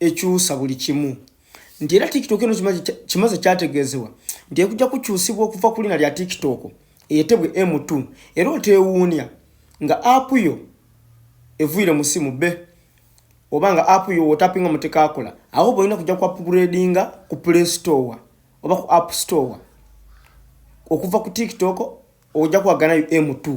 ekyusa buli kimu nti era tiktok eno kimaze kyategeezebwa nti ekujja kukyusibwa okuva ku lina lya tiktok eyetebwe m2 era oteewuunya nga app yo evuire musimu be oba nga app yo wotapinga mutekakola awo bolina kujja ku upgradinga ku play store oba ku app store okuva ku tiktok ojja kuwaganayo m2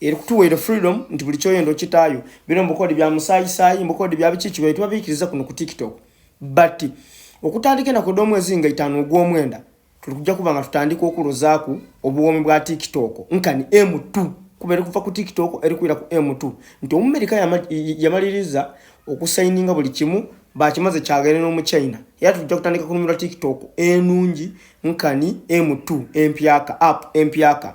eri kutuweere freedom nti buli kyoyenda okitaayo bino mubukodi bya musaayisaayi mubukodi bya biki kibaye tubabiikiriza kuno ku tiktok but okutandika enako domwezi nga itaano ogwomwenda tuli kujja kuba nga tutandika okulozaaku obuwoomi bwa tiktok nkani m2 kuba eri kuva ku tiktok eri kuira ku m2 nti omumerika yamaliriza okusayininga buli kimu bakimaze kyagere n'omu china era tujja kutandika kunumira tiktok enungi nkani m2 empyaka app empyaka